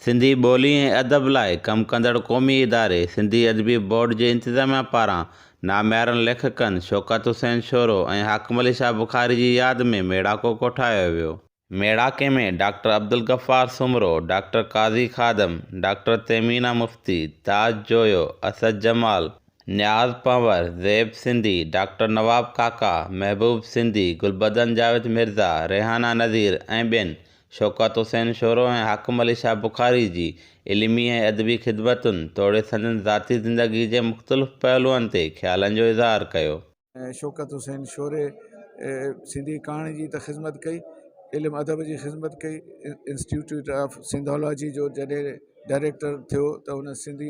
سنڌي ٻولي ۽ ادب لاء ڪم ڪندڙ قومي اداري سنڌي ادبي بورڊ جي انتظاميا پاران ناميارن ليکڪن شوڪت حسين شورو ۽ حاڪم علي شاهه بخاري جي ياد ۾ ميڙاڪو ڪوٺايو ويو. ميڙاڪي ۾ doctor Abdul Ghaffar Soomro, doctor Qazi Khadim, doctor Tehmina Mufti, Taj Joyo, Asad Jamal, Niaz Panhwar, Zeb Sindhi, doctor Nawab Kaka, Mehboob Sindhi, Gulbadan Javed Mirza, Rehana Nazir ۽ ٻين شوڪت حسين شورو ۽ حاڪم علي شاهه بخاري جي علمي ۽ ادبي خدمتن توڙي سندن ذاتي زندگي جي مختلف پهلوئن تي خيالن جو اظهار ڪيو. شوڪت حسين شوري سنڌي ڪهاڻي جي ته خدمت ڪئي، علم ادب جي خدمت ڪئي، انسٽيٽيوٽ آف سنڌالاجي جو جڏهن ڊائريڪٽر ٿيو ته هن سنڌي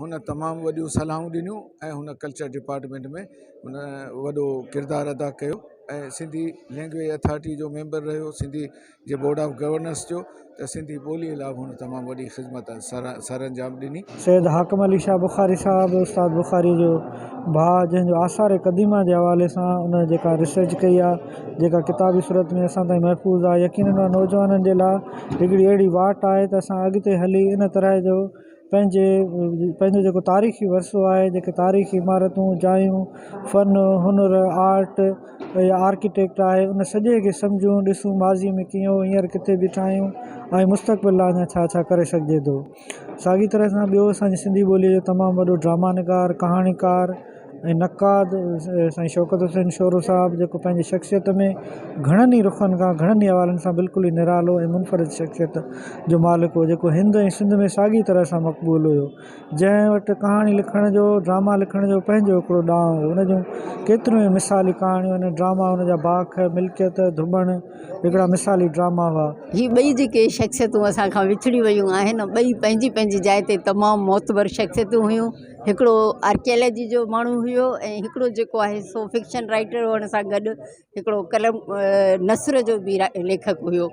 هن تمام وڏيون صلاحون ڏنيون ۽ هن ڪلچر ڊپارٽمينٽ ۾ هن وڏو ڪردار ادا ڪيو ۽ سنڌي لينگويج اٿارٽي جو ميمبر رهيو سنڌي جي بورڊ آف گورننس جو ته سنڌي ٻوليء لاء هن تمام وڏي خدمت سر انجام ڏني. سيد حاڪم علي شاهه بخاري صاحب استاد بخاريء جو ڀاء جنهن جو آثار قديمه جي حوالي سان ان جيڪا ريسرچ ڪئي آهي جيڪا ڪتابي صورت ۾ اسان تائين محفوظ آهي يقينن نوجوانن جي لاء هڪڙي اهڙي واٽ آهي ته اسان اڳتي هلي ان طرح جو پنهنجي پنهنجو جيڪو تاريخي ورثو آهي جيڪي تاريخي عمارتون جايون فن هنر آرٽ يا آرڪيٽيڪٽ آهي ان سڄي کي سمجهون ڏسون ماضي ۾ ڪيئن هو هينئر ڪٿي بيٺا آهيون ۽ مستقبل لاء اڃا ڇا ڇا ڪري سگهجي ٿو ساڳي طرح سان ٻيو اسان جي سنڌي ٻولي جو تمام وڏو ڊرامانگار ڪهاڻيڪار ۽ نقاد سائين شوڪت حسين شورو صاحب جيڪو پنهنجي شخصيت ۾ گهڻن ئي رخن کان گهڻن ئي حوالن سان بلڪل ئي نرالو ۽ منفرد شخصيت جو مالڪ هو جيڪو هند ۽ سنڌ ۾ ساڳي طرح سان مقبول هيو جنهن وٽ ڪهاڻي لکڻ جو ڊراما لکڻ جو پنهنجو هڪڙو ڏانء هو ان جون ڪيتريون ئي مثالي ڪهاڻيون آهن ڊراما ان جا باک ملڪيت ڌٻڻ هڪڙا مثالي ڊراما هئا. هي ٻئي جيڪي شخصيتون اسان کان وڇڙي ويون آهن ٻئي پنهنجي پنهنجي جاء تي تمام معتبر شخصيتون هيون. هڪڙو آرڪيالاجي جو ماڻهو هيو ۽ هڪڙو جيڪو آهي سو فڪشن رائيٽر هئڻ سان گڏ هڪڙو قلم نثر جو به ليکڪ هيو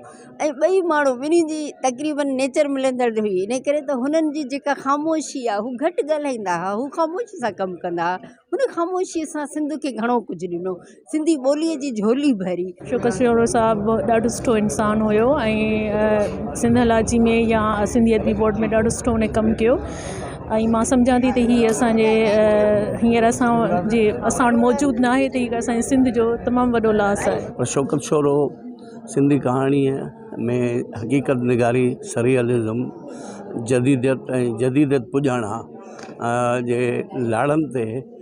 ۽ ٻئي ماڻهو ٻنهي جي تقريباً نيچر ملندڙ هئي ان ڪري ته هنن جي جيڪا خاموشي آهي هو گهٽ ڳالهائيندا هئا هو خاموشي سان ڪم ڪندا هئا هن خاموشي سان سنڌ کي گهڻو ڪجهه ڏنو سنڌي ٻوليء جي جهولي ڀري. شوڪت شورو صاحب ڏاڍو سٺو انسان هيو ۽ سنڌالاجي ۾ يا سنڌي ادبي بورڊ ۾ ڏاڍو سٺو هن ڪم ڪيو ۽ مان سمجهان ٿي ته هي اسانجي هينئر اسان جي اسان وٽ موجود نه آهي ته هي اسانجي سنڌ جو تمام وڏو لاس آهي پر شوڪت شورو سنڌي ڪهاڻيء ۾ حقيقت نگاري سريئلزم جديديت ۽ جديديت پڄاڻان جي لاڙن تي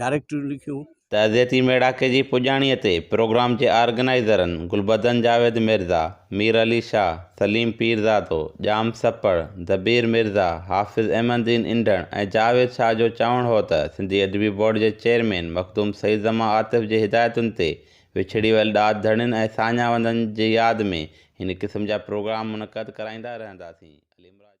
ڊائريڪٽريون لکيون. تعزيتي ميڙاڪي جي پڄاڻيء تي پروگرام جي آرگنائيزرن گلبدن جاويد مرزا، مير علي شاهه، سليم پيرزادو، ڄام سپڙ، دبير مرزا، حافظ احمد دين انڍڻ ۽ جاويد شاهه جو چوڻ هو ته سنڌي ادبي بورڊ جي چيئرمين مخدوم سيد زمان عاطف جي هدايتن تي وڇڙي ويل ڏات ڌڻين ۽ ساڃاهه وندن جي ياد ۾ هن قسم جا پروگرام منعقد ڪرائيندا رهنداسين. عليمراج.